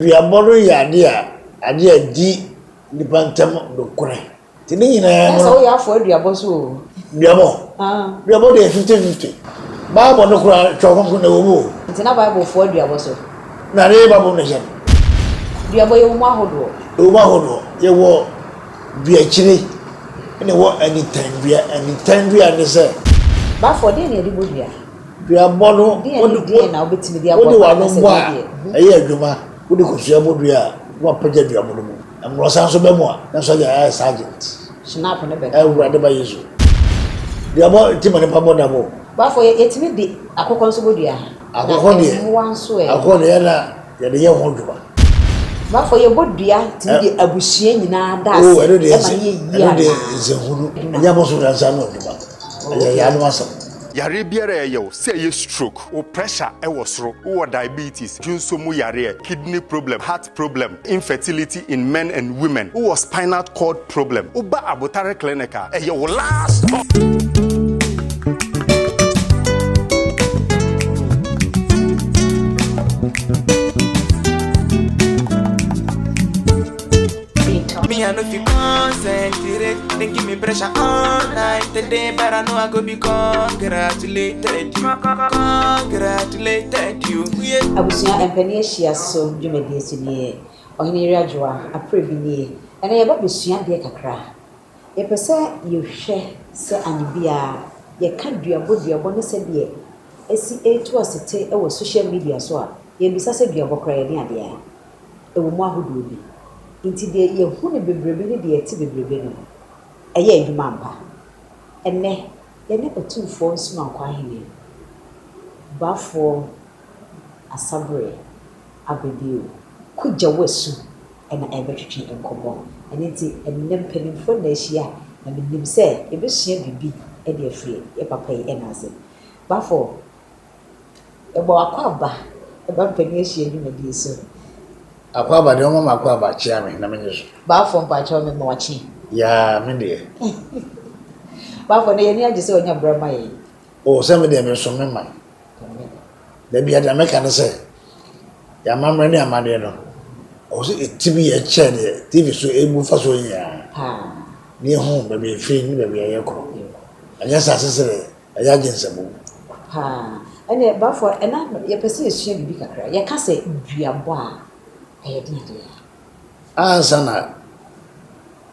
Aduabɔ no yɛ ade a ade a edi nnipa ntam nokorɛ nti ne nyinaa no. Sɛ woyɛ afoa aduabɔ nso o. Duabɔ? Ah. Duabɔ deɛ fifty fifty. Bible no koraa Twerɛ Kronkron na ɛwɔ mu o. Nti na Bible foa duabɔ so? Na ne Bible no hyɛ no. Duabɔ yɛwɔ mu ahodoɔ. Yɛwɔ mu ahodoɔ. Yɛwɔ duakyire ɛna ɛwɔ anintandua. Anintandua ne sɛ. Bafo, deɛ na yɛde bɔ dua? Duabɔ no, wode w'ano mmɔ a, ɛyɛ adwuma. Wode kosua bɔ dua a, na wapagya duabɔ no mu. Mmorɔsa nso ba mu a, na sɔgya ayɛ sergeant. Awurade ba Yesu. Duabɔ nti ma nnipa bɔ dabo. Bafo, yɛtumi de akokɔ nso bɔ dua. Akokɔ deɛ, akokɔ deɛ na yɛde yɛ ho adwuma. Bafo, yɛbɔ dua tumi de abusua nyinaa da ase. Oo, ɛno deɛ, ɛno deɛ nsɛnhunu. Ɛnyɛ abosom na nsa ano adwuma. Ɛyɛ yɛn ano asɛm. Yareɛ biara a ɛyɛ wo, sɛ ɛyɛ stroke, wo pressure ɛwɔ soro, wowɔ diabetes, dwonso mu yareɛ, kidney problem, heart problem, infertility in men and women, wowɔ spinal cord problem, woba abotare clinic a, ɛyɛ wo last stop. Me, I no fi concentrate. They give me pressure all night today, but I know I go be congratulated you. Congratulated you. Yeah. Abusua mpanin ahyia so dwumadie so nie. Ɔhene Yere Adwoa, aprɛ bi nie. Ɛnɛ yɛba bɛsua adeɛ kakra. Yɛpɛ sɛ yɛhwɛ sɛ anwo biara yɛka duabɔ duabɔ ne sɛdeɛ ɛsi ɛretu asete wɔ social media so a, yɛmmisa sɛ duabɔ koraa yɛne adeɛ a. ɛwɔ mu ahodoɔ bi. Nti deɛ yɛhu no bebrebe ne deɛ ɛte bebrebe no, ɛyɛ adwuma ampa. Ɛnnɛ, yɛne Ɔtumfoɔ Nsumankɔ Ahene Boafoɔ Asaberɛ Abebio Kugya-Wasu na ɛrebɛtwetwe nkɔmmɔ. Ɛno nti, ɛnnɛ mpanimfoɔ nna ahyia, na menim sɛ yɛbɛsua biribi de afiri yɛn papa yi nan ase. Boafoɔ. Yɛbɔ akwaaba ɛba mpanin ahyia dwumadie so. Akwaaba deɛ ɔma m'akwaaba kyea me na menye so. Baafoɔ mpakyɛw me ma wakye. Yaa me deɛ. Baafoɔ na yɛn ani agye sɛ ɔnya berɛ ma yɛn. O sɛ me deɛ mesom me man. Da bia deɛ mɛka ne sɛ yɛn amammerɛ ne amadeɛ no ɔwɔ sɛ ɛti bi yɛ kyɛn deɛ TV so ɛbu fa so nyinaa. Paa. Ne yɛhu baabi ɛfiri ne baabi a yɛkɔ. Ɛnyɛ sɛ asesere. Ɛyɛ adwensɛm o. Paa. Ɛnneɛ Bafo, ɛna yɛpɛ sɛ yɛsua biribi kakra. Yɛka sɛ duabɔ a, ɛyɛ deɛn deɛ? Ansa na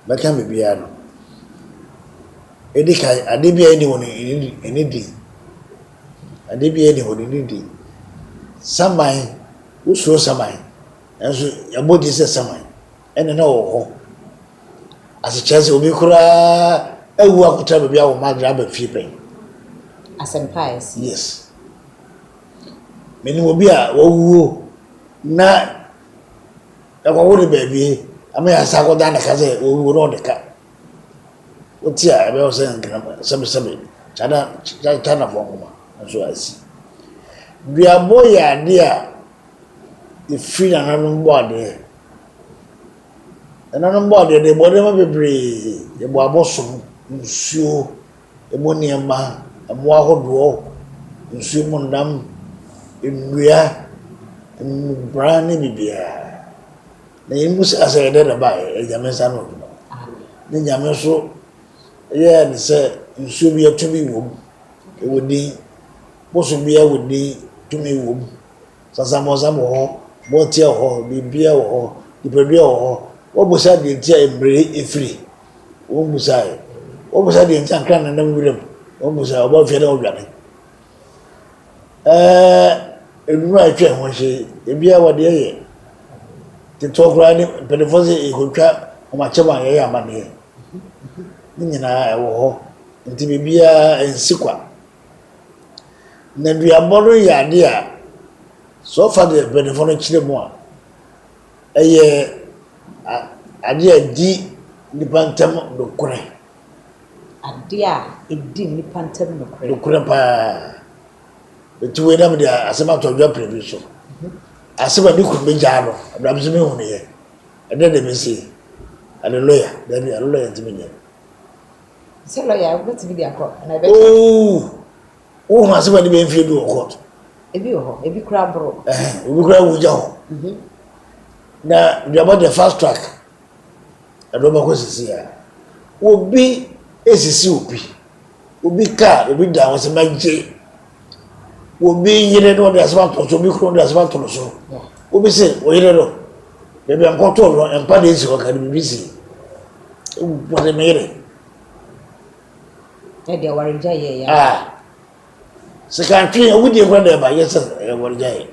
mɛka biribiara no, ɛdi kan, adeɛ biara nni hɔ no ɛnni din. Adeɛ biara nni hɔ no ɛnni din. Saman, wosuro saman, nanso yɛabɔ din sɛ saman. ɛne no wɔ hɔ. Ase kyerɛ sɛ obi koraa awu akɔtena baabi a wɔn adwene aba fie pɛn. Asɛmpa a ɛsi. Yes. Menim obi a wawuo na ɛkɔwo ne baabi ama yɛ asa akɔda ne ka sɛ wawuo na ɔde ka. Wote a ɛbɛyɛ sɛ nkrama sɛbesɛbe kyana kyana fɔ nkoma nso asi. Duabɔ yɛ adeɛ a yɛfiri nananom bɔadeɛ. Nananom bɔadeɛ deɛ yɛbɔ nneɛma bebree, yɛbɔ abosom, nsuo, ɛmu nneɛma, mmoa ahodoɔ, nsuo mu nnam, nnua, mmubran ne biribiara. Na yɛn mu sika sɛ yɛde na ɛbaeɛ, ɛyɛ Nyame nsa ano adwuma. Ne Nyame nso yɛɛ no sɛ nsuo biara tumi wɔ mu, ɛwɔ din, bosom biara wɔ din, tumi wɔ mu. Sasamɔsam wɔ hɔ, bɔɔteɛ wɔ hɔ, biribiara wɔ hɔ, nipadua wɔ hɔ. Wɔbisa deɛ nti a mmerɛ firi. Wɔmbisaeɛ. Wɔbisa deɛ nti a nkran nenam wira mu. Wɔmbisaeɛ. Wɔba fie a na wɔdwane. Ɛɛ nnuro a ɛtwa ho ahyia yi, ebiara wɔde yɛyɛ. Ketewa koraa ne mpanimfoɔ sɛ yɛkɔtwa wɔn akyɛm a yɛyɛ amanneɛ. Ne nyinaa ɛwɔ hɔ. Nti biribiara nsi kwa. Nneduabɔ no yɛ ade a, sɛ wɔfa deɛ mpaninfoɔ no kyerɛ mu a, ɛyɛ adeɛ a ɛdi nnipa ntam nokorɛ. Adeɛ a ɛdi nnipa ntam nokorɛ. Nokorɛ pa ara. Ɛti wei na me de asɛm ato adwa pɛrɛbi so. Asɛm a ne kunu bɛgyaa no, ɛberɛ a me nso me hunuyɛ. Ɛdɛ deɛ me se, Alleluia, dabi, Alleluia nti me nyɛ. Sɛ lɔya wobɛtumi de akɔ anaa ɛbɛkyɛ? Oo, wohu asɛm a de bɛyɛ mfie du wɔ court. Ebi wɔ hɔ, ebi kura boro. Obi kura wugya hɔ. Mhm. Na duabɔ deɛ fast track ɛde wɔbɛkɔ sisi a. Obi esisi obi, obi kaa, obi da wɔn sɛ magye Obi yere na ɔde asɛm ato no so, obi kunu de asɛm ato no so. Obi se ɔyere no, baabi a nkɔtoo no, mpa deɛ nsi hɔ ka no biribi si. Wɔde me yere. Ɛde awaregya yɛ ya. Ah. Sɛ ka ntwe yɛ, wodie kora na ɛba, yɛ sɛ awaregya yɛ.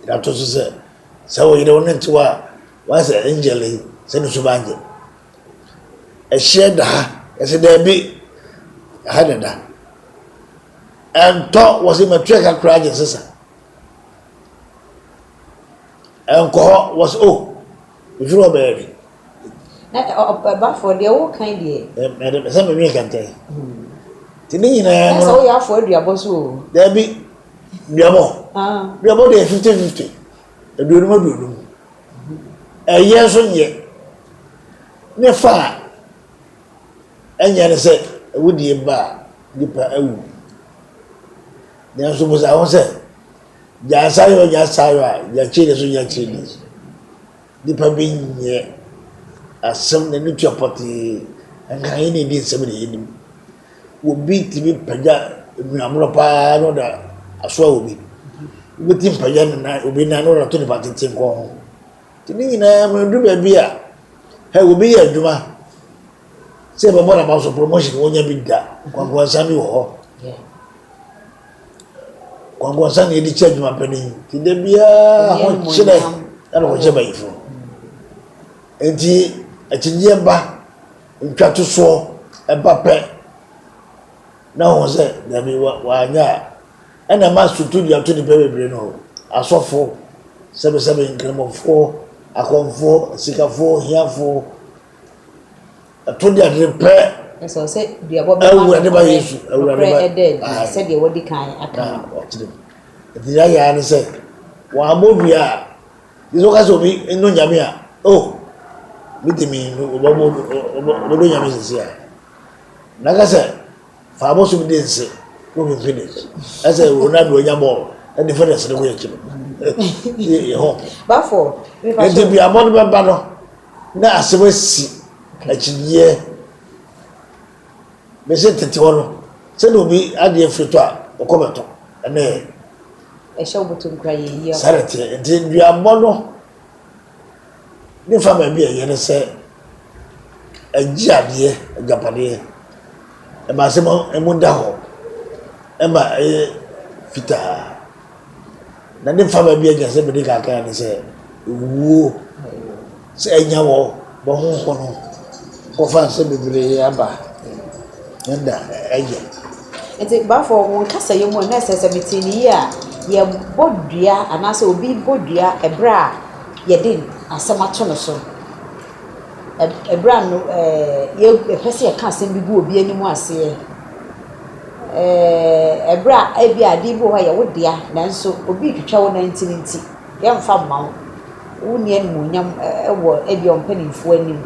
Ɛda mhm. to so sɛ, sɛ ɔyere wo ne ntewa a, wɔasɛ angel yi, sɛ ne so ba angel. Ɛhyeɛ da ha? Yɛsɛ daabi, ha na ɛda. Ɛntɔ wɔ se matwa ka koraa gye nsesa. Ɛnkɔ hɔ wɔ se o, oh, mefiri hɔ bɛyɛ de. Na ɛbafoɔ deɛ wo kan deɛ. Ɛde sɛ me nwi kɛntɛn. Ti ne nyinaa no. Ɛsɛ woyɛ afoɔ aduabɔ so o. Daabi, duabɔ. Ah. Duabɔ deɛ fifty fifty. Aduonum aduonum. Ɛyɛ nso nyɛ. Ne fa a ɛnyɛ ne sɛ awudie ba a nipa awu. Nanso busa ho sɛ, gya sayɔ gya sayɔ a gya kyiri so gya kyiri so. Nipa bi nyɛ asɛm n'ani tua pɔtee nka yɛn na edi nsɛm na yɛnim. Obi tumi pagya nnwammerɛ pa ara na ɔde asoa obi. Obi tumi pagya ne nan, obi nan na ɔde ato nipa tete nkɔn ho. Nti ne nyinaa mu no, ɛduru baabi a, hɛ, obi yɛ adwuma sɛ ɛbɛbɔ n'aba so promotion wɔnya bi da. Nkwankwansa bi wɔ hɔ. Nkwankwansa na yɛde kyɛ adwuma pɛ no yi. Nti da biara ho kyerɛ ɛna wɔkyɛ bayifo. Nti akyinyeɛ ba Ntwatosoɔ ba pɛ na ɔhu sɛ dabi wanyɛ a, ɛna ɛma struktur dua to nnipa bebree no, asɔfo, sɛbesɛbe, nkramofo, akɔmfo, asikafo, ahiafo, ɛto de ade pɛ. Ɛsɛ ɔsɛ duabɔ bɛma awurade ba Yesu awurade ba ɛda adi sɛdeɛ wɔadi kan aka no. Enti yɛayɛ ara ne sɛ wɔammɔ dua a. Sɛ woka sɛ obi nnɔ Nyame a, oh, me de me nnu, wɔbɛdɔ Nyame sisi a. Na ka sɛ, fa abosom di nse, wo me finish. Ɛsɛ Ronaldo anya bɔɔl, ɛde fɛrɛs ne ho akyi no. Yɛ ho. Bafo, me pa so. Ɛde bi abɔ no bɛba no, na asɛm asi akyinyeɛ. Mese tete hɔ no, sɛdeɛ obi adeɛ firi tɔ a, ɔkɔ bɛtɔ. Ɛnɛ yɛ. Ɛhyɛ wo bɔtɔ nkura yɛ yie. Saa na teɛ. Nti duabɔ no ne fa baabi a ɛyɛ ne sɛ ɛgye adeɛ agyapadeɛ ɛma asɛm mu da hɔ ɛma ɛyɛ fitaa. Na ne fama bi a gyina sɛ mede kaka ne sɛ ewuo sɛ anya wɔ bɔ ho ho no kɔfa nsɛ bebree aba ne da ɛyɛ. Nti bafo wɔn nkasa yɛ mu a na ɛsɛ sɛ mete ne yie a yɛbɔ dua anaasɛ obi bɔ dua ɛberɛ a yɛde asɛm ato no so. Ɛberɛ a no ɛɛ yɛpɛ sɛ yɛka asɛm bi gu obi anim aseɛ. Ɛɛ, bere a ebia ade bi wɔ hɔ a ɛyɛ wo dea nanso obi retwitwa wo nantin nti, yɛremfa mma wo. Wunni animuonyam wɔ ebia wo mpanimfo anim.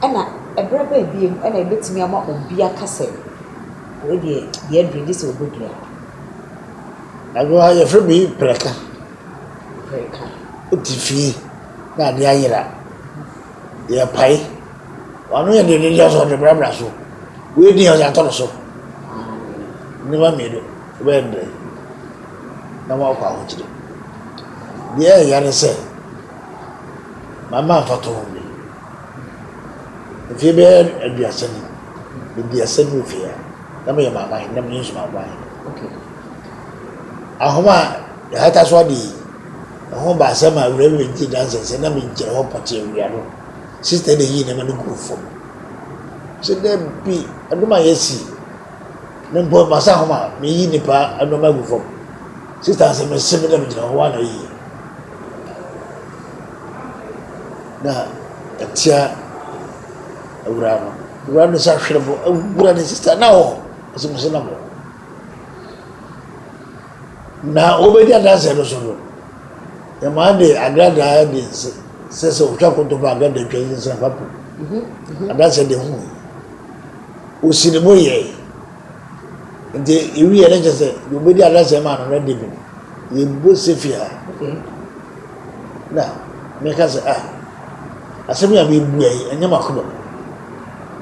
Ɛnna bere bɛn bio na ebetumi ama obi aka sɛ, wei deɛ, deɛ aduru yi, gye sɛ ɔbɛdua? Ɛno ara yɛfrɛ bi prɛka. Prɛka. Wote fie na adeɛ ayera. Yɛpae. W'ano yɛ den no ntia so ɔde brabra so. Wei din a ɔde ato no so. Nneɛma mmienu wobɛyɛ no dɛn na woakɔ ahokyere? Deɛ ɛyɛ ne sɛ mama mfatoho bi. Mfeɛ bɛyɛ aduasa ni, aduasa ni mfeɛ a na meyɛ maaman, na menye nsumankwan. Ahoma a yɛhata so ade yi. Hom baasa maa Reverend dzii danse sɛ na migyina hɔ pɔtsee ewia do. Sista dɛ yii ndzɛmba no guu famu. Ɔse, Dabi, adom a yesi no mpo, masa hom a miyi nyimpa ndzɛmba egu famu. Sista no se, Mese me dɛ migyina hɔ, woana oyi na etsia Ewura no? Ewura no san hwer bo, Ewura ne sista no wɔ hɔ? Ɔse, Mese no wɔ hɔ. Na wobedi adanse no so no, ɛma ade agradaa a ɛde nse sɛ sɛ otwa kontɔn fa agradaa twa nyinsɛn fa po adanse de ho yi. Osi ne bo yɛe. Nti ewi yɛ ne kyɛ sɛ deɛ obedi adanse ma no no de bi no yɛbɔ sefi ha. Na meka sɛ ah asɛm yi a mebua yi ɛnyɛ m'akoma mu.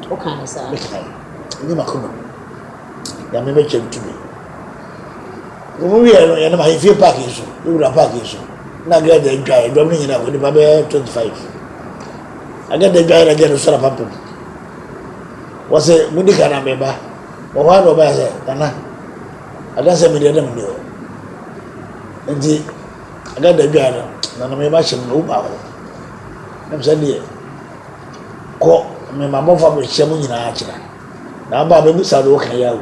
Woka ne saa? Meka ɛnyɛ m'akoma mu. Nyame bɛkyɛ ntumi. Wɔn wieɛ no yɛnam ahemfie park yi so yɛwura park yi so na agɛɛ da adwa yɛ dɔm no nyinaa fo nipa bɛyɛ twenty five agɛɛ da adwa yɛ na agɛɛ no sɔrɔ apampam wɔsɛ mo di kan na mɛba wɔn hɔ ano ɔba yɛ sɛ nana adansi mi deɛ dɛm deɛ nti agɛɛ da adwa yɛ no nana mɛba hyɛ mu na wo baako ɛm sɛ deɛ kɔ mɛma bɔfo abɛhyɛ mo nyinaa akyerɛ na aba abɛbusa deɛ wɔka yɛ awo.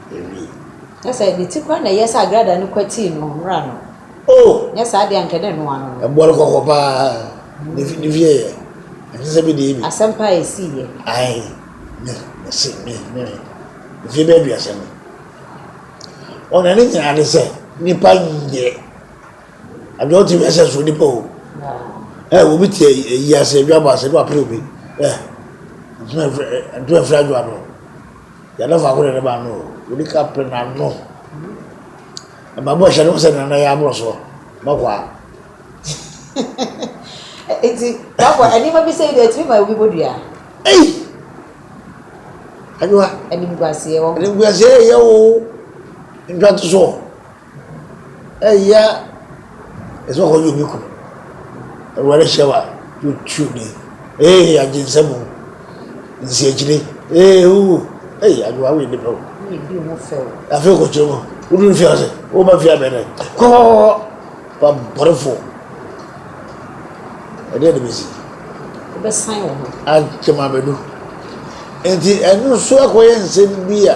Awi. Kyerɛ sɛ, ne ti koraa na ɛyɛɛ sɛ agradaa no kwatii no mmra no. Oh! Nyɛ saa deɛ, anka ɛna ɛnoa no no. Ɛboɔ no kɔkɔ paa, ne fi, ne fi yɛ yɛ. Ɛnte sɛ me deɛ bi. Asɛm paa a ɛsii yɛ. Ae, me, me se, me, me, me, mfie bɛyɛ aduasa ni. Oh, na ne nyinaa ne sɛ, nipa nyɛ. Abia wote wiase a so nipa o. Ɛ, obi te ayi ase, adwa bɔ ase, ne wapere obi. Ɛ, ntoma mfiri, ntoma mfiri adwa no. Yɛda faako na ɛde ba no o. Wode ka pere n'ano. Ɛma bɔ hyɛ no sɛ nana yɛ aboro so. Mɛkwaa. Eti, bafo, ɛnneɛma bi sɛ yi deɛ ɛtumi ma obi bɔ dua. Ei! Adwoa. Animguaseɛ wɔ ho. Animguaseɛ yɛ o. Ntwa to so. Eya ɛsɛ hɔ yɛ bi ko Awurade hyɛ wa to twu ni ee agye nsɛm o nsi akyire ee uu ee adwoa wo nipa o afei kɔ kyerɛ mu wodu mfia ase woba mfia bɛn dɛ kɔkɔkɔkɔ wa bɔrefo ɛdeɛ de bɛsi akyɛm abɛdu nti ɛno nso akɔyɛ nsɛm bi a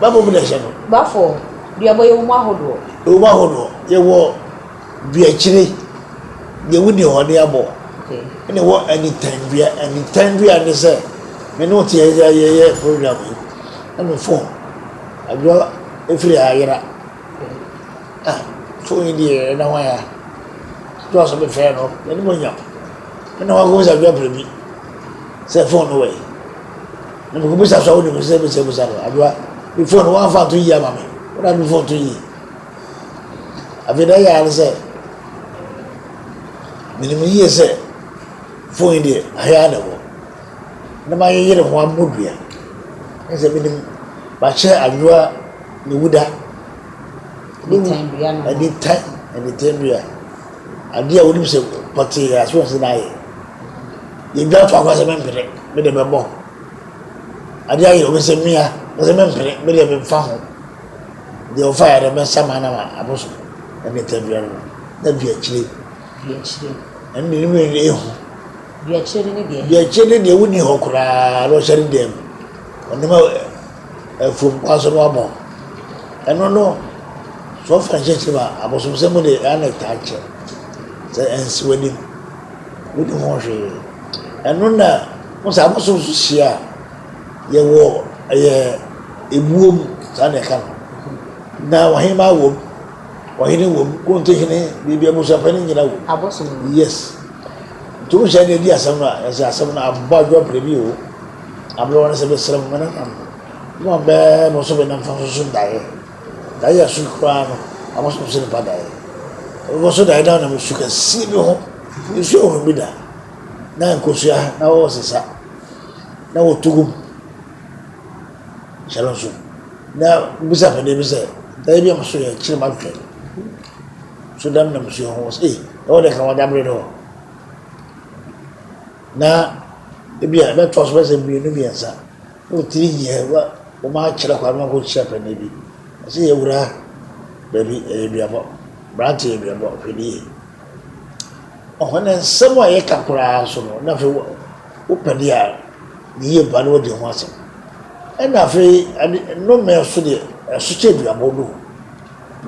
Bafo mu na ɛhyɛ no. Bafo duabɔ yɛwɔ mu ahodoɔ. Yɛwɔ mu ahodoɔ yɛwɔ duakyire deɛ wodi hɔ de abɔ ɛna ɛwɔ anitan dua anitan dua ne sɛ me ne wote yɛ yɛyɛ program yi na me fon adwoa efiri ha yera ah fon yi deɛ ɛna hwan ya adwoa so bɛfrɛ no ɛne mo nyam ɛna hwan kɔmisa adwoa pere bi sɛ fon no wɔ yi. Na mekɔ bisa so a wonim sɛ bisa bisa no adwoa me phone no wɔamfa nto yie ama me wona me phone to yie afei na ɛyɛ ara ne sɛ menim yie sɛ phone yi deɛ ahea na ɛwɔ na mayeyere ho ammɔ dua ne sɛ menim makyɛ adwoa ne wuda ɛde tan ɛde tan dua adeɛ a wonim sɛ pɔtee aso ɔsɛ na ayɛ Yedwa to agua sɛ mempene, me de bɛbɔ ho. Ade ayɛ obi sɛ mia, ɔse mempene, me deɛ memfa ho. Deɛ ɔfa yɛ dɛ mɛsa ma na ma abo so, ɛne ta dua no no, na dua kyire. Dua kyire. Ɛne deɛ ne mmienu no ehu. Dua kyire ne deɛ. Dua kyire ne deɛ wonni hɔ koraa na ɔhyɛ ne dan mu. Ɔnam afuom kwan so na wabɔ ho. Ɛno no, sɛ ɔfa nhyɛ tirim a, abosomsɛm mu de, ɛyɛ a na ɛtaa kyɛ. Sɛ ɛnsi w'anim. wonni ho hwee. Ɛno na wohu sɛ abosom nso hyia a, yɛwɔ ɛyɛ ebuo mu, saa na ɛka no. Na ɔhemaa wom, ɔhene wom, kurontehene, biribi abusuapɛn no nyina wom. Abosom no. Yes. Nti wohu sɛ ɛna ɛdi asɛm no a, ɛsɛ asɛm no abɔ adwoa pere bi o. Aberɛ wɔ no sɛ mesrɛ mo, me nananom, mo a bɛɛ mo so bɛnam fa nso so daeɛ. Dae a su koraa no na wɔsom sɛ nnipa dae. Bepɔ so dae no nam su kɛseɛ bi ho. Nsuo a wɔnom bi da na nkosua na wɔsesa na wɔtu gu mu hyɛ no nso. Na bisa afɛdeɛ bi sɛ dae bi a moso yɛ kyerɛ matwɛ so da nam nsuo ho sɛ ei ɛwɔ deɛ ka wɔda bere no hɔ. Na ebi a ɛbɛtɔ so bɛsɛ mmienu mmiɛnsa. Wotiri yɛ wa wɔn a kyerɛ kwan ma kɔ kyerɛ pɛnɛ bi. Ɔsɛ yɛ wura baabi ɛyɛ duabɔ. Brante yɛ duabɔ hwɛ ni yɛ. Ɔhɔ ne nsɛm a yɛ ka koraa nso no na fɛ wo pɛde a ne yie ba no wadi ho asɛm. Ɛna fɛ ade no mɛ so deɛ ɛso kyɛ duabɔ no.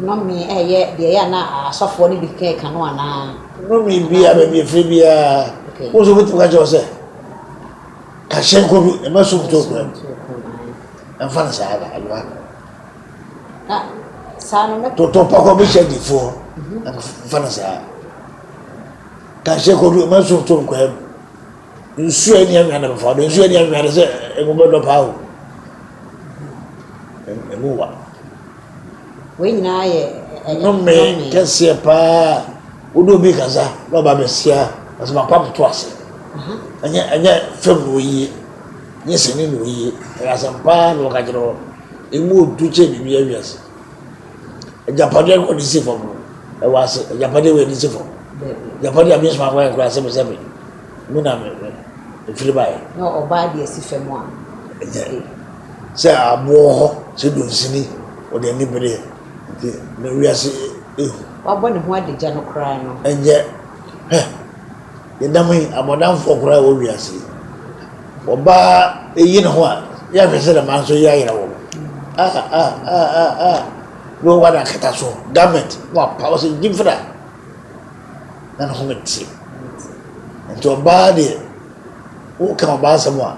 Nɔme ɛyɛ deɛ yɛ na asɔfoɔ no bi kɛ ka no anaa. Nɔme bi a baabi ɛfiri bi a. Wo nso wobɛtumi ka kyerɛ wɔ sɛ. Kahyɛ nkodu ɛma so kuto kura mu. Ɛmfa no saa na ɛma. Na saa no mɛ. Toto pɔkɔ bi hyɛ difoɔ ɛmfa no saa. Kahyɛ kodu ɛma so kuto kura mu. Nsuo ɛni anwia na bɛfa do nsuo ɛni anwia de sɛ ɛmu bɛdɔ paa o. Ɛmu wa. Wei nyinaa yɛ nnome kɛseɛ paa a wode obi kasa na ɔba bɛsia asɛm akɔ abɛto ase. Ɛnyɛ ɛnyɛ fam na ɔyie, ɛnyɛ sini na ɔyie, ɛyɛ asɛm paa na ɔka kyerɛ hɔ. Ɛmu ɔdu kyɛ biribi awi ase. Agyapadeɛ kɔ de si fam no, ɛwɔ ase. Agyapadeɛ wei de si fam. Agyapadeɛ a menyɛ soma kwan koraa sɛbesɛbe. Me na mefiri baeɛ. Na ɔbaa deɛ si fam a. Ɛnyɛ sɛ aboɔ wɔ hɔ sɛ dunsini, ɔde ani bereɛ nti na wiase ehu. Wabɔ ne ho adagya no koraa no. Ɛnyɛ, hwɛ, yɛda mu yi, abɔdamfoɔ koraa wɔ wiase yi. Wɔba eyi ne ho a, yɛhwɛ sɛ dɛm ara nso yɛayera wɔn. Ah, ah, ah, ah, ah. Wei wɔ adakata so, garment, wapaw sɛ gyimfra. na ne home te. Nti ɔbaa deɛ, woka ɔbaa asɛm a,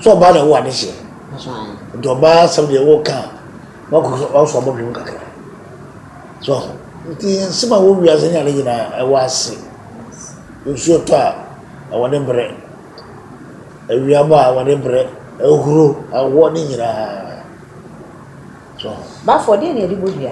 so ɔbaa na ɛwɔ adehyeɛ. Nti ɔbaa asɛm deɛ woka a, wɔsɔ abɔdwe mu kakra. So ho. Nti nsɛm a ɛwɔ wiase ne ade nyinaa ɛwɔ ase. Nsuo tɔ a, ɛwɔ ne berɛ. Awia bɔ a, ɛwɔ ne berɛ. Ahuro, awɔ ne nyinaa. So ho. Bafoɔ, deɛ na yɛde bɔ dua?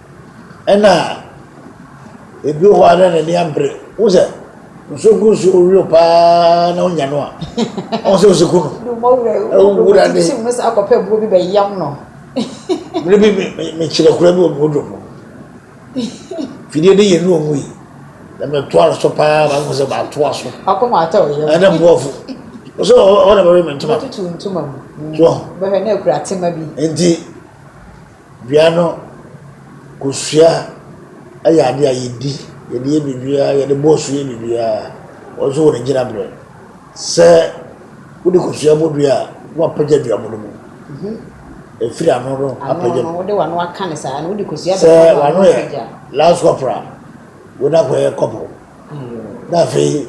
Ɛna ebi wɔ hɔ a na n'ani ambere. Wo sɛ nsuo gu nsuo ɔwio paa na ɔnya no a ɔn sɛ ɔsi ku no. Ɔwura ne. Tim no sɛ akɔpɛ buo bi bɛyam no. Mmerɛ bi mekyerɛ kura bi wɔ mewoduro mu. Fidie ne yɛ nu ɔmu yi. Na metoa no so paa ma mehu sɛ matoa so. Akoma atɔ ɔyam. Ɛna boɔfo. Ɔsɛ ɔna bɛwe me ntoma. Tutu ntoma mu. Tuɔ. Bɛhwɛ na akura tema bi. Nti. Dua no, kosua yɛ adeɛ a yɛdi, yɛde yɛ biribiara, yɛde bɔ so yɛ biribiara, ɔno nso wɔ ne gyinaberɛ. Sɛ wode kosua bɔ dua a, na wapagya dua mono mu, ɛfiri ano no apagya mu. Sɛ w'ano yɛ lance corporal a, wei na akɔyɛ corporal. Na afei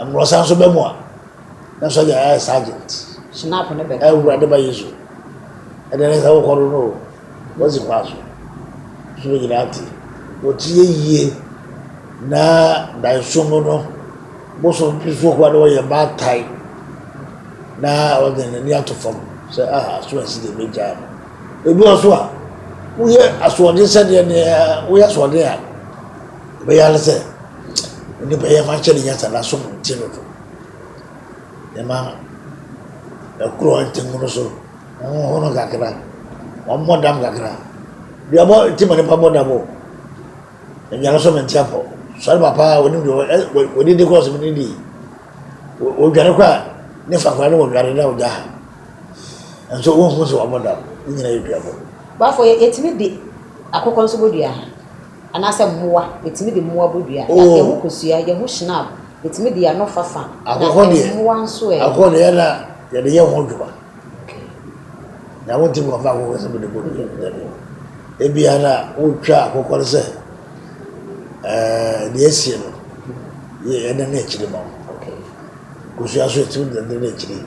mmorɔsa nso bɛ mu a na sɔgya ayɛ sergeant Snap ne bɛ awura de ba yesu ɛdɛ ne sɛ wokɔ no no o wɔsi kwan so so bɛ nyinaa te wɔtie yie na danso mu no bosom bi so koa na wɔyɛ mmaa tae na wɔde n'ani ato fam sɛ ah aso asi deɛ bɛgyaa no ebi wɔ so a woyɛ asoɔden sɛdeɛ deɛ woyɛ asoɔden a Ɔbɛyɛ ara sɛ onipa yi yɛmfa nhyɛ ne nyansa na asom no ti no do. Yɛma ɛkoro ntengu no so, ɔhoho no kakra, ɔmmɔ dam kakra. Dua bɔ ti ma nipa bɔ dam o. Aduane so mente apɔ. Sɔre papa a onim deɛ wɔdidi kɔ ɔsom ne di. Odwane kɔ a ne fa kora ne wɔdwane na ɔgya ha. Nso wɔhu sɛ wɔbɔ dam. Ne nyina yɛ duabɔ. Bafo yɛtumi de akokɔ nso bɔ dua? Anaasɛ mmoa, yɛtumi de mmoa bɔ dua. Yɛate ɛho kosua, yɛ ho shinab, yɛtumi de yɛ ano fafa. Na mmoa nso ɛ? Akohɔ deɛ, yɛ na yɛde yɛ ho adwuma. Na wontumi nkɔfa akohɔ sɛ mede bɔ dua, dabi. Ebia na wotwa akokɔ no sɛ deɛ asie no, yɛde ne akyire ma wo. Kosua nso yɛtumi de ne akyire,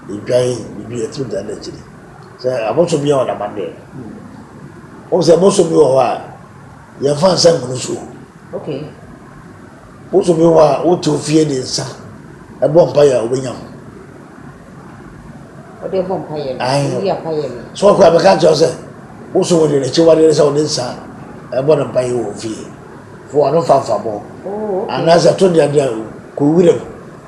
edwan, biribi yɛtumi de ne akyire. Sɛ abosom bi yɛ wɔn amanneɛ. Wohu sɛ bosom bi wɔ hɔ a, yɛmfa nsa ngu no so o. Okay. Bosom bi wɔ hɔ a, wote wo fie de nsa ɛbɔ mpaeɛ a, wobɛnya ho. Wɔde ɛbɔ mpaeɛ no, Ae. woyi apaeɛ no. So ɔkɔ a, bɛka kyerɛ wo sɛ, bosom wɔ deɛ n'akyiwadeɛ ne sɛ wode nsa ɛbɔ no mpaeɛ wɔ wo fie. Fo ano fa mfa bɔ. Oh, okay. Anaasɛ to deɛ deɛ kɔ wo wuram.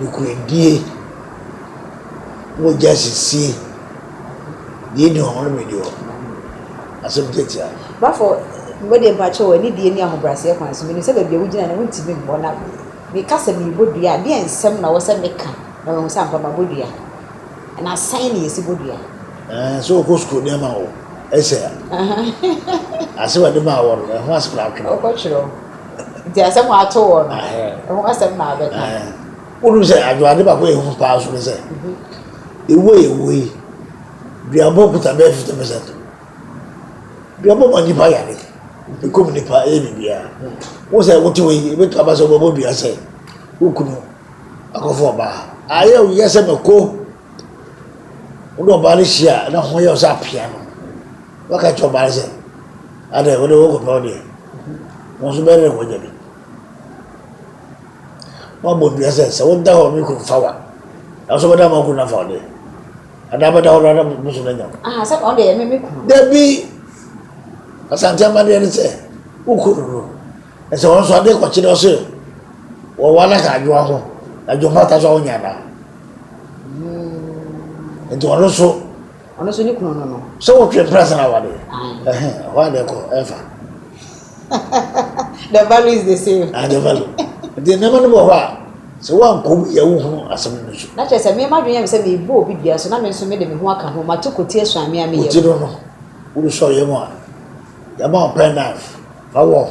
Nokorɛdie, mogya sisie, deɛ ɛnni hɔ nnome deɛ ɔno. Asɛm tiatia no. Bafo mo deɛ mpakyɛw anidie ne ahobraseɛ kwan so menim sɛ baabi a wogyina no wontimi mmɔ na meka sɛ merebɔ dua a deɛ nsɛm na wɔsɛ meka na wɔahu sɛ ampa mabɔ dua na sɛn ne yɛsi bɔ dua. Ɛɛ sɛ ɔkɔ sukuu ne ama wo ɛsɛ a ase wɔde maa wɔ no ɛho ase koraa twerɛ. Ɔkɔ twerɛ. Nti asɛm a ato hɔ no, ɛho asɛm na abɛka. Wonim sɛ adwoade baako a ɛyɛ hu paa so ne sɛ, ɛwu a yɛwu yi, duabɔ kuta bɛyɛ fifty percent. Duabɔ ma nipa yare, ɛkum nipa, ɛyɛ biribiara. Wo sɛ wote hɔ yi, ɛbɛtu aba sɛ wobɛbɔ dua sɛ wo kunu akɔfo ɔbaa. Ayɛ wo yɛ sɛ mako. Wode ɔbaa no hyia a, na ho yɛ wo sɛ apea no. Wɔka kyerɛ ɔbaa no sɛ, Adɛn, wo de worekɔpɛ wo deɛ? Wo nso bɛyɛ dɛn woanya bi? Woabɔ dua sɛ, sɛ woda hɔ me kunu fa wo a, nanso wobɛda ma wo kunu no afa wo deɛ. Adaa bɛda hɔ no ara na bosom no anya wo. Aha, sɛ ɔde yɛ me me kunu. Dabi! Asante amadeɛ ne sɛ, wo kunu no, ɛsɛ wɔn nso adeɛ kɔkye dɔ sɛ wɔwa no ka adwoa ho, na dwom pata so a wonya anaa? Nti ɔno nso Ɔno nso ne kunu no no. Sɛ wotwe mprɛnsa na awade. Ɛhɛn, ɛhɔ a na ɛkɔ ɛfa. The value is the same. Ah, the value. Nti nneɛma no wɔ hɔ a, sɛ woankɔ mu yɛ wohunu asɛm no nsu. Na kyerɛ sɛ me m'adwene yɛ me sɛ merebɔ obi dua so na me nso mede me ho aka ho, mato koti asuan me a meyɛ. Koti no no, woresɔ yam a, yɛama wo pen knife, fa wɔ ho.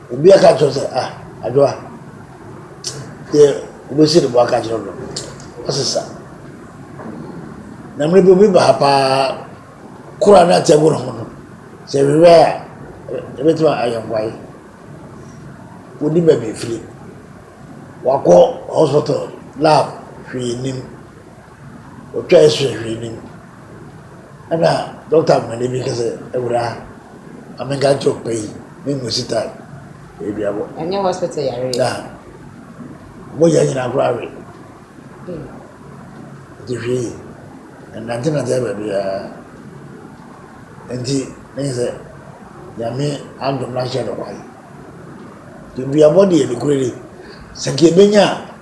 Obi aka akyerɛ wo sɛ, ah, Adwoa, deɛ wobɛsi ne bo aka akyerɛ no, wasesa. Na mmerɛ bi obi ba ha paa, kora na ate agu ne ho no, sɛ ɛhwehwɛ a, ɛbɛtumi ayɛ nkwae. Wodi baabi firi, wakɔ hospital lab, hwee nnim. Ɔtwae sua hwee no mu. Nna dɔkta mbanyin bi ka dɛ, Ewura, ma menka nkyerɛ wo pɛ yi, menngu sitar eduabɔ. Ɔnnyɛ hospital yar yi. Na mogya nyina koraa awe. Ntsi hwɛ yie, nnantsenantsen ba biara. Ntsi ne nye dɛ, Nyame adom na akyerɛ no kwan. Eduabɔ de yɛ nokwardzi. Sɛ nka yebenya a.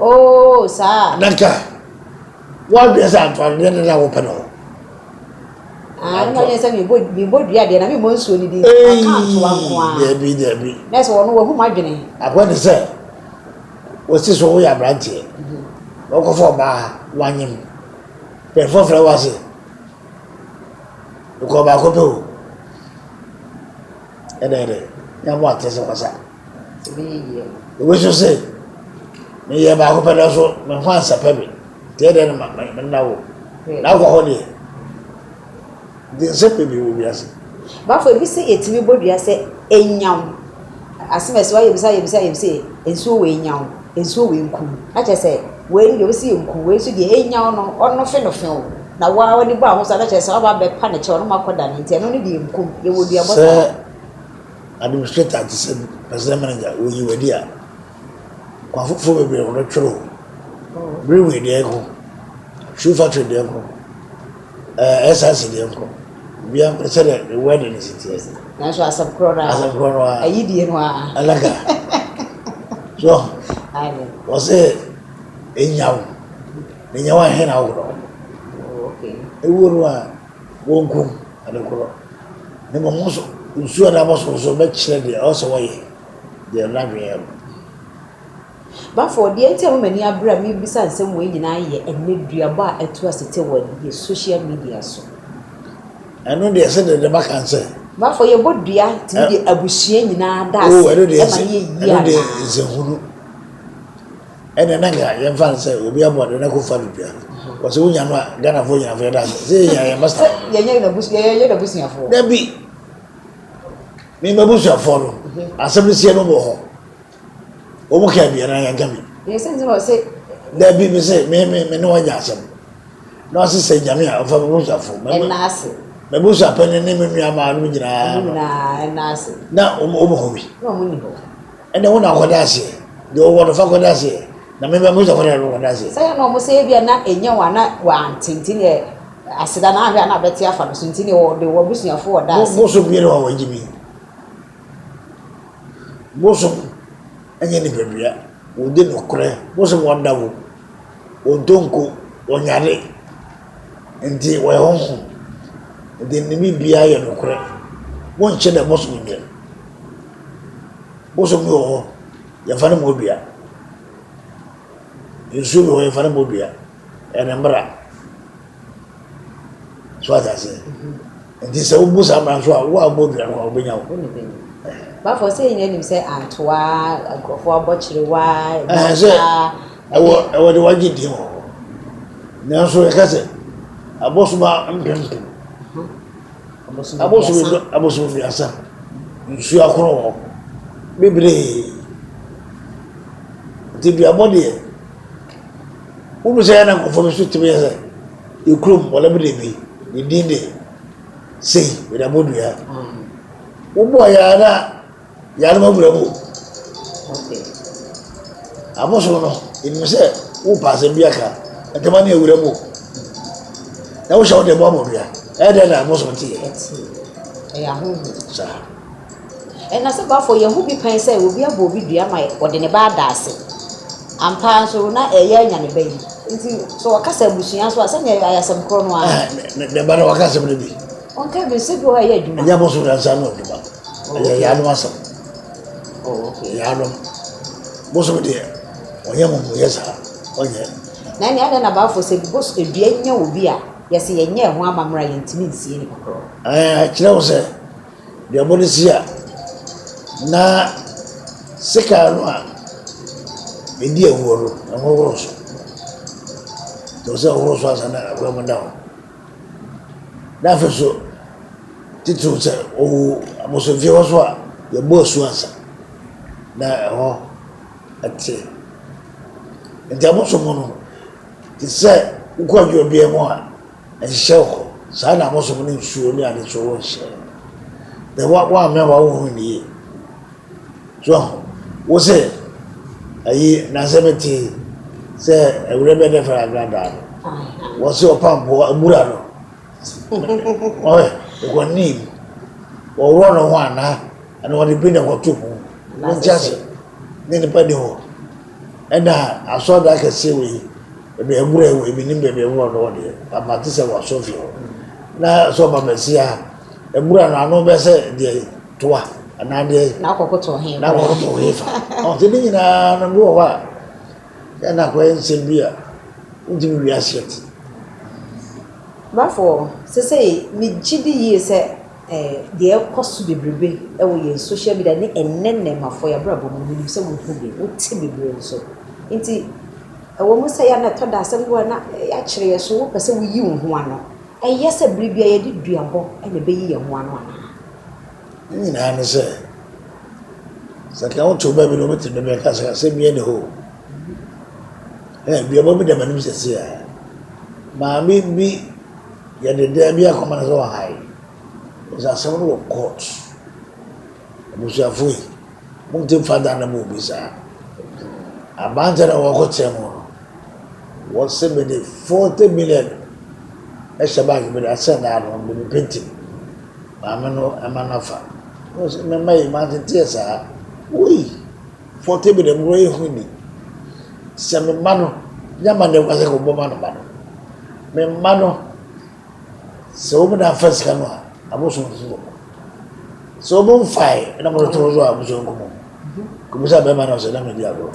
Oo, saa. Na nka woadwene sɛ antoantodeɛ no na wopɛ no ho. Ah, ɛna yɛ sɛ mebɔ mebɔ dua deɛ na memmɔ nsuo no din aka ntoa nko a daabi daabi na sɛ wɔno wahu m'adwene akoa ne sɛ wɔsi so woyɛ aberanteɛ mhm. wɔkɔfa ɔbaa wanyem pɛmfɔ frɛ wo ase nkɔ baako pɛ o ɛdɛ ɛdɛ nyɛ mo atɛ sɛ wɔsa Obi nso se, Meyɛɛ baako pɛ nanso me ho ansɛpɛ me, nti ɛdeɛ no ma me nna wo. N'akwa hɔ deɛ, nti nsɛm bebree wɔ wiase. Bafo, ebi se yɛtumi bɔ dua sɛ enyaw. Asem a ɛse hɔ ara yɛbisa yɛbisa yɛbisa yɛ, nsuo wei nyaw, nsuo wei nku. Na kyerɛ sɛ, wei no deɛ wɔse enku, wei nso deɛ enyaw no, ɔnofe no few. Na wo ara w'ani bɔ ahosuo a, na kyerɛ sɛ, waba abɛpa ne kyɛw na moakɔdane, nti ɛno no deɛ enku. Yɛwɔ duabɔ saa. Sɛ Administrator te sɛ president manager wɔ yiwadi a kwan foforɔ bebree wɔ no twere ho. Brewery deɛ nko, shoe factory deɛ nko, ɛɛ SRC deɛ nko. Bia nko sɛ deɛ ne word no si teɛ. Nanso asɛm korɔ no ara. Asɛm korɔ no ara. Ayi die no ara. Alaka. So. Ayi. Wɔ sɛ enyawo, enyawo ahe na aworɔ. Oh okay. Ewuo no ara. Wonkum ade koro, na mmom wo nso nsuo anaa bɔso nso bɛkyerɛ deɛ ɛwɔ sɛ wɔyɛ, deɛ ɛno adwene yɛ no. Bafo, deɛ nti a mema m'ani abere a merebisa nsɛm wei nyinaa yɛ ɛnnɛ duabɔ a atu ase te wɔ yɛn social media so. Ɛno deɛ ɛsɛ dɛn na maka no sɛ. Bafo, yɛbɔ dua tumi de abusua nyinaa da ase ma no yɛ yie anaa? Oo, ɛno deɛ ɛsɛ hunu. Ɛne na nka yɛmfa no sɛ obi abɔ ade na kɔ fa no dua. Wɔ sɛ wonya no a Ghanafoɔ nyina fo yɛda ase. Sɛ yɛnya yɛn masta no. Yɛnyɛ n'abusuafoɔ. Dabi. Me m'abusuafoɔ no asɛm no sie no wɔ hɔ. Wɔn ka bi anaa yɛnka bi. Yɛ sɛ nsɛm a ɔsɛ. Dabi me se me me me ne wɔn nya asɛm. Na ɔse sɛ nyame a ɔfa m'abusuafoɔ. Ɛna ase. M'abusuapɛ ne ne me nua maa no nyinaa. Nyinaa ɛna ase. Na wɔn wɔn hɔ bi. Na wɔn ni hɔ. Ɛnna wo na kɔda aseɛ. Deɛ ɔwɔ no fa kɔda aseɛ. Na me ba Musa kɔda no kɔda aseɛ. Sɛ yɛ na wɔn sɛ ebia na ɛnyɛ wɔn ana wɔante nti na aseda na ahwɛ ana bɛte afa no so nti na wɔde wɔn abusuafoɔ ɔda aseɛ. Bosom yɛ no a wɔgye bi. Bosom ɛnyɛ nipadua. Wɔdi nokorɛ. Bosom ɔda wo. Ɔdonko. Ɔnyare. Enti wɔyɛ honhom. Enti ne biribiara yɛ nokorɛ. Wonkyɛ dɛ bosom nnɛ. Bosom bi wɔ hɔ, yɛmfa no mmɔ dua. Nsuo bi wɔ hɔ, yɛmfa no mmɔ dua. Ɛyɛ ne mmara. So ate aseɛ? Enti sɛ wobu saa mmara nso a, wo a wobɔ dua no, wɔbɛnya wo. Bafoɔ, sɛ yɛn nyinaa nim sɛ atoa, nkurɔfoɔ abɔ kyerewa, ɛmɔ taa. Ɛwɔ ɛwɔ de wagye deɛ wɔ hɔ. Nanso yɛka sɛ abosoma mpempem abosom du abosom duasa nsuo akoro wɔ bebree nti duabɔ deɛ wonu sɛ ɛna nkɔfoɔ bi so tumi yɛ sɛ ekurom wɔn bi de bi ne din de sei yɛde abɔ dua wobɔ yɛ ara. Yare ma bura mu o. Abosom no, yɛnim sɛ wopa asɛm bi aka ntɛma ne awura mu o. Na wohyɛ wo de mu abɔdua. Ɛyɛ dɛn na abosom te yɛ? Ɛyɛ ahohoro. Saa. Ɛna sɛ bafo yɛ ho bi pɛn sɛ obi abɔ obi dua ma ɔde ne ba ada ase. Ampa nso na ɛyɛ anya ne ba yi. Nti sɛ ɔka sɛ abusua nso a sɛnea ɛyɛ asɛm korɔ no ara. Ne ba na waka asɛm no bi. Ɔnka bi sɛ bi wɔ hɔ a ɛyɛ adwuma. Ɛnyɛ abosom na nsa no adwuma. Ɛyɛ yaanom asɛm. Yaanom. Bosom deɛ, ɔnyɛ amumuyɛ saa, ɔnyɛ. Na ɛnna adɛn na Bible sɛ bos dua nya obi a yɛsɛ yɛnyɛ ɛho amammerɛ a yɛntumi nsie ne kɔkɔrɔ? Ɛɛ kyerɛ wo sɛ deɛ ɔbɔ no si a na sekaa no a ɛdi awuo no ɛho horo so. Ɛwɔ sɛ ɔhoro so ansa na awura mu da hɔ. N'afei so, titiriw sɛ owu abosomfie hɔ so a, yɛbɔ asu ansa na ɛhɔ te. Nti abosom no, te sɛ wokɔ adwuma biara mu a, ɛnhyɛ wo hɔ. Saa na abosom ne nsuo ne ade so nhyɛ. Na woammɛn w'ahohuru no yie. So wo se, Ayi, na se mete sɛ awuram bɛdɛfɛre agradaa no, wɔ se ɔpampoo abura no, ɔhɛ, ekɔnim, wɔworɔ no ho anaa, ɛna wɔde bi na ɛkɔto mu, wonte ase, ne nipa ni hɔ, ɛna asɔɔdan kɛseɛ wɔ yi, baabi abura yi wɔ yi, menim baabi ɛworɔ no wɔ deɛ, but mate sɛ wɔ asɔfie hɔ, na sɛ ɔba Mesia a, abura no ano bɛsɛ deɛ yi. to a anaa deɛ yi. na akɔkoto ɔhen na akɔkoto ɔhen fa ɔte ne nyinaa no bi wɔ hɔ a ɛna akɔyɛ nsɛm bi a wontumi wi aseɛ te. Bafoɔ sesei megye di yie sɛ ɛɛ deɛ ɛkɔ so bebrebe ɛwɔ yɛn social media ne ɛnɛ nnɛɛmafoɔ yɛ abrabɔ mu menim sɛ wohu bi wote bebree nso nti ɛwɔ mu sɛ yɛ na ɛtɔ da asɛm bi wɔ na yɛakyerɛ yɛ so wopɛ sɛ woyi wo ho ano ɛyɛ sɛ bere biara yɛde duabɔ ɛna ɛbɛyi yɛn ho ano anaa. Ne nyinaa ne sɛ, sɛ nka woto ba bi na ɔbɛtena baabi anka sɛ asɛm biara nni hɔ o. Hɛ, duaba bi da m'anim sɛsi a, maame bi yɛ dedaa bi akoma no sɛ ɔhae. Sɛ asɛm no wɔ court. Abusuafo yi, mote mfa da no ma obi saa. Aban nti na wɔkɔ kyɛn mu no. Wɔse mede forty million hyɛ bank bi na sɛ daa no mede painting maame no ɛma no afa ɔse me mma yi manteteɛ saa woi forty million koraa yɛ hu ni sɛ me mma no nya ma ne kwa sɛ kɔbɔ ma no ma no me mma no sɛ wɔn na afa sika no a abosom fo wɔ sɛ wɔn mfae na mo to so a abosom kɔmɔ kɔmisa bɛrima no sɛ na medi agorɔ.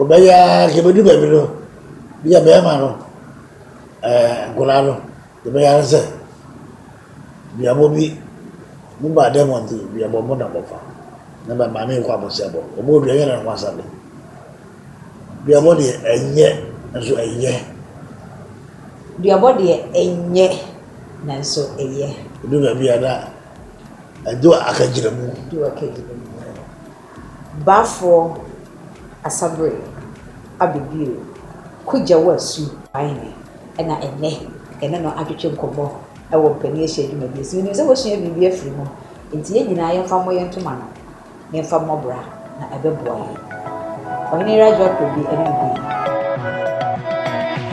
Ɔbɛyɛ ara sɛ yɛbɛdu baabi no, bi a bɛrima no, ɛɛ nkwadaa no, yɛbɛyɛ ara sɛ duabɔ bi, mo ba dɛm wɔn ti duabɔ mo na mo fa, na bɛ maame yɛ kɔ abɔsia bɔ, wɔn bɔ dua yɛ na wɔn asa de. Duabɔ deɛ ɛnyɛ nso ɛyɛ. Duabɔ deɛ ɛnyɛ na nso ɛyɛ. Edu baabi a na ɛdu akagyina mu. Du akagyina mu. Baafoɔ Asaberɛ aba bio. Kogya wo asu. Wayne, ɛna ɛnnɛ yɛne no atwetwe nkɔmmɔ wɔ Mpanin Ahyia Adwuma bi ase. Menim sɛ wasua biribi afiri mu, enti yɛn nyinaa yɛmfa mmɔ yɛn ntoma ano na yɛmfa mmɔ bra, na ɛbɛboa yɛn. Ɔhene Rajwa Kwebi ne no dii.